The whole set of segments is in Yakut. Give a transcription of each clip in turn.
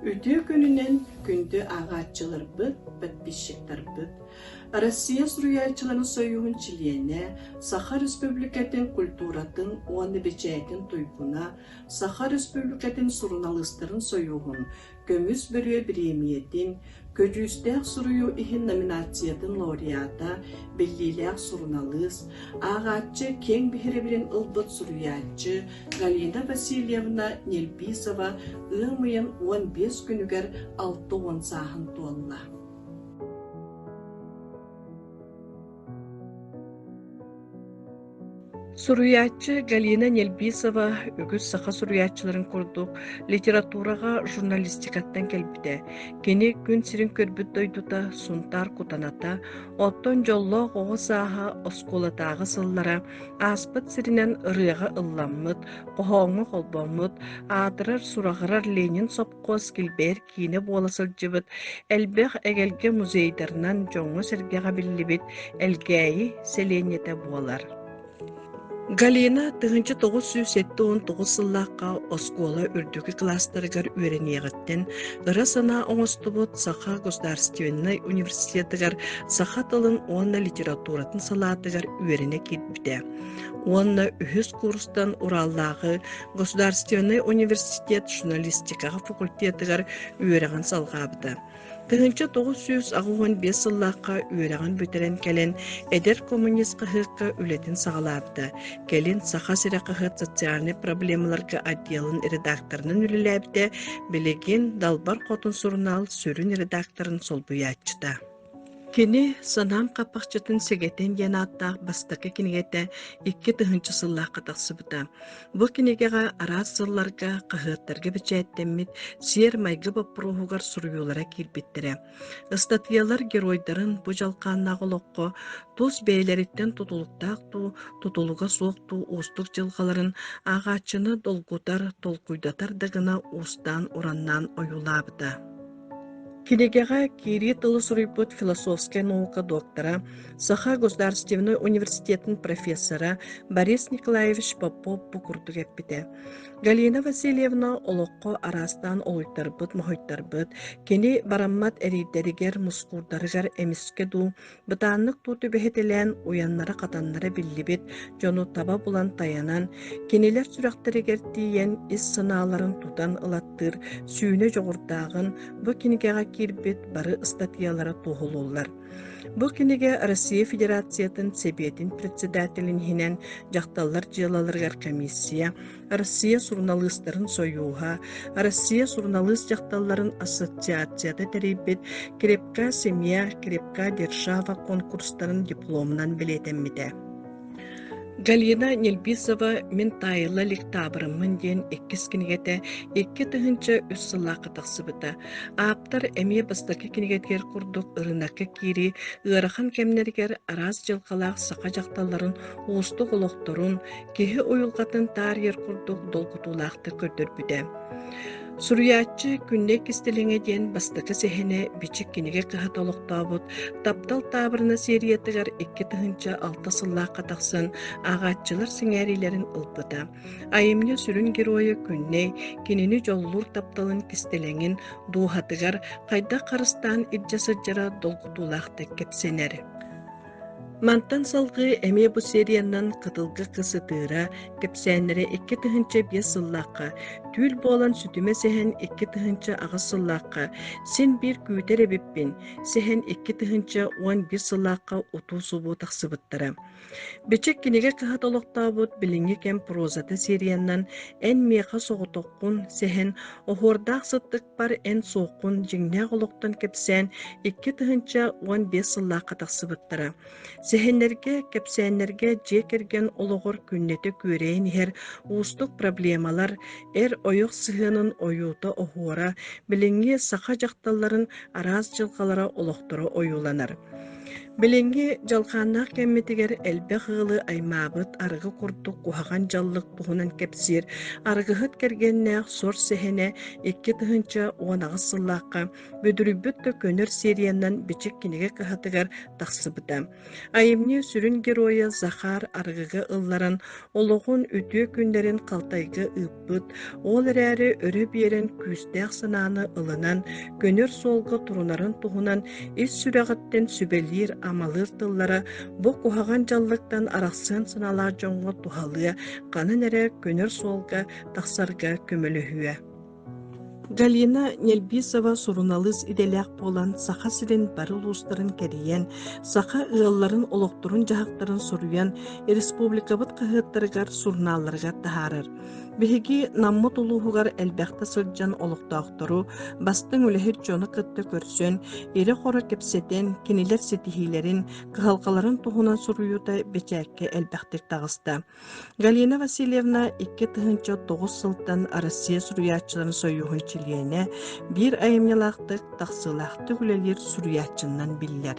Үтүө күнүнэн күндү ааҕааччыларбыт, подписчиктарбыт, Россия Суруйааччыларын союһун чилиэнэ, Саха Республикатын культуратын уонна бэчээтин туйгуна, Саха Республикатын суруналыыстарын союһун Көмүс бөрүө бириэмийэтин, көдьүүстээх суруйуу иһин номинациятын лауреата, биллиилээх суруналыыс, ааҕааччы киэҥ биһирэбилин ылбыт суруйааччы Галина Васильевна Нельписова ыам ыйын уон биэс күнүгэр алта уон сааһын туолла. Суруйааччы Галина Нельбисова үгүс саха суруйааччыларын курдук литератураҕа журналистикаттан кэлбитэ. Кини күн сирин көрбүт дойдута Сунтаар кутаната, оттон дьоллоох оҕо сааһа оскуолатааҕы сыллара ааспыт сиринэн ырыаҕа ылламмыт, хоһооҥҥо холбоммут, аатырар-сураҕырар Ленин сопхуос Килбээр киинэ буола сылдьыбыт, элбэх эгэлгэ музейдарынан дьоҥҥо-сэргэҕэ биллибит Элгээйи сэлиэнньэтэ буолар. Галина тыһыынча тоҕус сүүс сэттэ уон тоҕус сыллаахха оскуола үрдүкү класстарыгар үөрэниэҕиттэн ыра санаа оҥостубут Саха государственнай университетыгар саха тылын уонна литературатын салаатыгар үөрэнэ киирбитэ. Уонна үһүс курстан Ураллааҕы Государственнай университет журналистикаҕа факультетыгар үөрэҕин салҕаабыта. Тыһыынча тоҕус сүүс аҕыс уон биэс сыллаахха үөрэҕин бүтэрэн кэлэн, эдэр коммунист хаһыакка үлэтин саҕалаабыта. Кэлин Саха сирэ хаһыат социальнай проблемаларга отделын редакторынан үлэлээбитэ, билигин Далбар Хотун сурунаал сүрүн редакторын солбуйааччыта. Кини «Санаам хапахчытын сэгэтин» диэн ааттаах бастакы кинигэтэ икки тыһыынча сыллаахха тахсыбыта. Бу кинигэҕэ араас сылларга хаһыаттарга бэчээттэммит сиэр-майгы боппуруоһугар суруйуулара киирбиттэрэ. Ыстатыйалар геройдарын бу дьалхааннаах олоххо тус бэйэлэриттэн тутулуктаах дуу, тутулуга суох дуу уустук дьылҕаларын ааҕааччыны долгутар, толкуйдатар да гына уустаан-ураннаан ойуулаабыта. Кинигэҕэ киирии тылы суруйбут философскай наука доктора, Саха государственнай университетын профессора Борис Николаевич Попов бу курдук эппитэ. Галина Васильевна олоххо араастаан олуйтарбыт-моһойтарбыт, кини бараммат эриирдэригэр, мускуурдарыгар эмискэ дуу, Бытааннык туу түбэһитилээн уйаннара-хатаннара биллибит дьону таба булан тайанан, кинилэр сүрэхтэригэр тиийэн ис санааларын тутан ылаттыыр сүүнэ дьоҕурдааҕын бу кинигэҕэ киирбит бары ыстатыйалара туоһулууллар. Бу кинигэ Россия Федерациятын Сэбиэтин председателин иһинэн дьахталлар дьыалаларыгар комиссия Арассыыйа суруналыыстарын сойууһа, Арассыыйа суруналыыс дьахталларын ассоциацията тэрийбит «Крепка семья, крепка держава» конкурстарын дипломунан бэлиэтэммитэ. Галина Нельбисова «Мин таайыла лектаабырыммын» диэн иккис кинигэтэ икки тыһыынча үс сыллаахха тахсыбыта. Ааптар эмиэ бастакы кинигэтигэр курдук ырынакка киирии ыарахан кэмнэригэр араас дьылҕалаах саха дьахталларын уустук олохторун, киһи уйулҕатын таарыйар курдук долгутуулаахтык көрдөрбүтэ. Суруйааччы Күннэй Кистэлэҥэ диэн бастакы сэһэнэ Бичик кинигэ кыһата олохтообут Таптал таабырына сериятыгар икки тыһыынча алта сыллаахха тахсан ааҕааччылар сэҥээриилэрин ылбыта. Айымньы сүрүн геройа Күннэй кинини дьоллуур тапталын кистэлэҥин дууһатыгар хайдах харыстаан илдьэ сылдьара долгутуулаахтык кэпсэнэр. Мантан салгыы эмиэ бу сериянан Кытылга кыс ытыыра, кэпсээннэрэ икки тыһыынча биэс сыллаахха, түүл буолан сүтүмэ сэһэн икки тыһыынча аҕыс сыллаахха, син биир күүтэр эбиппин, сэһэн икки тыһыынча уон биир сыллаахха утуу-субуу тахсыбыттара. Бичик кинигэ кыһат олохтообут билиҥҥи кэм прозата сериянан эн миэхэ соҕотоххун сэһэн оһуордаах сыттык Паппар эн суоххун дьиҥнээх олохтон кэпсээн икки тыһыынча уон биэс сыллаахха тахсыбыттара. Сэһэннэргэ, кэпсээннэргэ дьиэ кэргэн олоҕор күннэтэ күөрэйэн иһэр уустук проблемалар, эр ойох сыһыанын ойуута оһуора, билиҥҥи саха дьахталларын араас дьылҕалара олохторо ойууланар. Билиҥҥи дьалхааннаах кэммитигэр элбэх ыалы аймаабыт арыгы курдук куһаҕан дьаллык туһунан кэпсиир аргыһыт кэргэннээх сор сэһэнэ икки тыһыынча уон аҕыс сыллаахха Бүдүрүйбүт да көнөр сериянан Бичик кинигэ кыһатыгар тахсыбыта. Айымньы сүрүн геройа Захар арыгыга ылларан олоҕун үтүө күннэрин халтайга ыыппыта. ааспыт, ол эрээри өрө биэрэн күүстээх санааны ылынан, көнөр суолга турунарын туһунан ис сүрэҕиттэн сүбэлиир, амалыыр тыллара бу куһаҕан дьаллыктан арахсыан санаалаах дьоҥҥо туһалыа, ханан эрэ көнөр суолга тахсарга көмөлөһүө. Галина Нельбисова суруналыыс идэлээх буолан Саха сирин бары улуустарын кэрийэн, саха ыалларын олохторун-дьаһахтарын суруйан, республикабыт хаһыаттарыгар, сурунаалларыгар таһаарар. Биһиги Наммыт улууһугар элбэхтэ сылдьан олохтоохтору, бастыҥ үлэһит дьону кытта көрсөн, ирэ-хоро кэпсэтэн, кинилэр ситиһиилэрин, кыһалҕаларын туһунан суруйуута бэчээккэ элбэхтик таҕыста. Галина Васильевна икки тыһыынча тоҕус сылтан Россия суруйааччыларын сойуһун чилиэнэ, биир айымньылаахтык, тахсыылаахтык үлэлиир суруйааччыннан биллэр.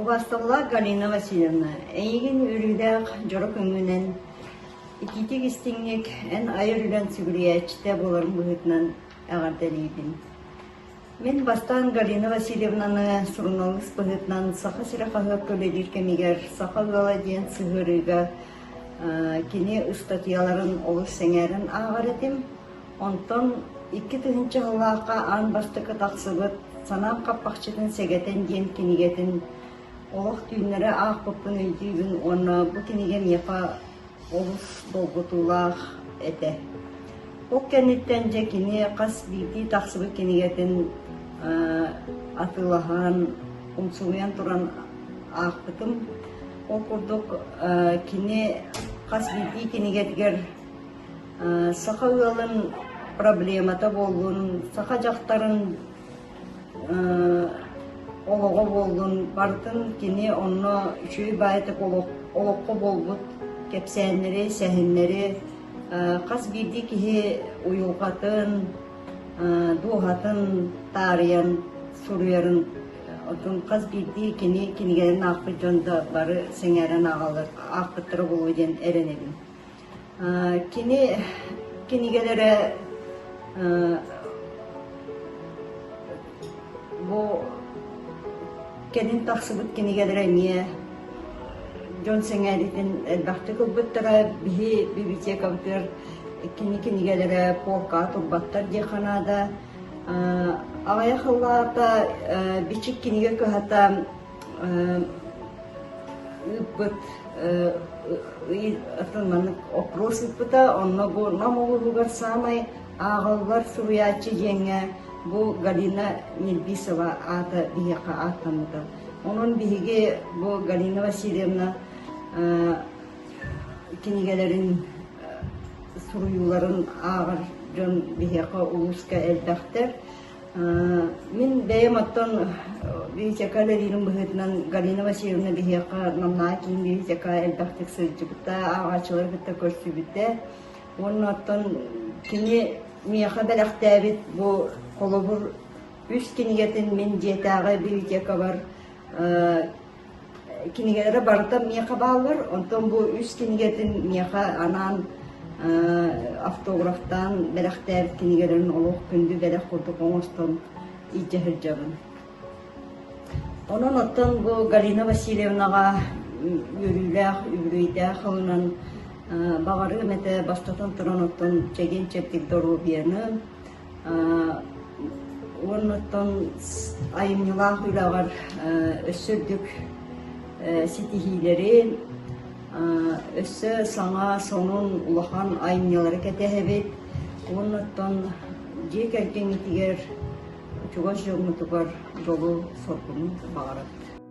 Убасталлаах Галина Васильевна, эйигин үрүүдээх дьоро көҥүнэн, ититик истиҥник, эн айар үлэн сүгүрүйээччитэ буоларын быһыытынан эҕэрдэлиибин. Мин бастаан Галина Васильевнаны суруналыыс быһыытынан Саха сирэ хаһыакка үлэлиир кэмигэр Саха ыала диэн сыһыарыыга кини ыстатыйаларын олус сэҥээрэн ааҕар этим. Онтон икки тыһыынча сыллаахха аан бастакы тахсыбыт Санаам хаппахчытын сэгэтэн диэн кинигэтин олох түүннэри аахпыппын өйдүүбүн уонна бу кинигэ миэхэ олус долгутуулаах этэ. Ол кэнниттэн дьэ кини хас биирдии тахсыбыт кинигэтин атыылаһан, умсугуйан туран аахпытым. Ол курдук кини хас биирдии кинигэтигэр саха ыалын проблемата буоллун, саха дьахтарын олоҕо буоллун бардын кини онно үчүгэй баайтык олоххо буолбут кэпсээннэри сэһэннэри хас биирдии киһи уйулҕатын дууһатын таарыйан суруйарын отун хас биирдии кини кинигэлэрин аахпыт дьон да бары сэҥээрэн ааҕаллар аахпыттара буолуо диэн эрэнэбин Кини кинигэр эрэ бу кэлин тахсыбыт кинигэлэрэ эмиэ дьон сэҥээриитин элбэхтик ылбыттара. Биһи библиотекабытыгар кини кинигэлэрэ полкаҕа турбаттар диэххэ наада. Аҕыйах ыллаата, Бичик кинигэ кыһата ыыппыт атын маннык опрос ыыппыта. Онно бу Нам улууһугар саамай ааҕыллар суруйааччы диэҥҥэ бу Галина Нильбисова аата биһиэхэ ааттаммыта. Онон биһиги бу Галина Васильевна кинигэлэрин суруйууларын ааҕар дьон биһиэхэ улууска элбэхтэр. Мин бэйэм оттон Витяка Лэриирин быһыытынан Галина Васильевна биһиэхэ намнаа киин Витяка элбэхтик сылдьыбыта, ааҕааччылары кытта көрсүбүтэ. Уонна оттон кини миэхэ бэлэхтээбит бу холобур үс кинигэтин мин дьиэтээҕи библиотекабар кинигэлэрэ барыта миэхэ бааллар, онтон бу үс кинигэтин миэхэ анаан автографтаан бэлэхтээбит кинигэлэрин олох күндү бэлэх курдук оҥостон илдьэ сылдьабын. Онон оттон бу Галина Васильевнаҕа үөрүүлээх, үбүлүйдээх ылынан баҕарыым этэ бастатан туран оттон чэгиэн-чэбдик доруобуйаны, Уонна оттон айымньылаах үлэҕэр өссө үрдүк ситиһиилэрин, өссө саҥа, сонун, улахан айымньылары кэтэһэбит. Уонна оттон дьиэ кэргэҥҥитигэр, чугас дьоҥҥутугар дьолу, соргуну баҕарабыт.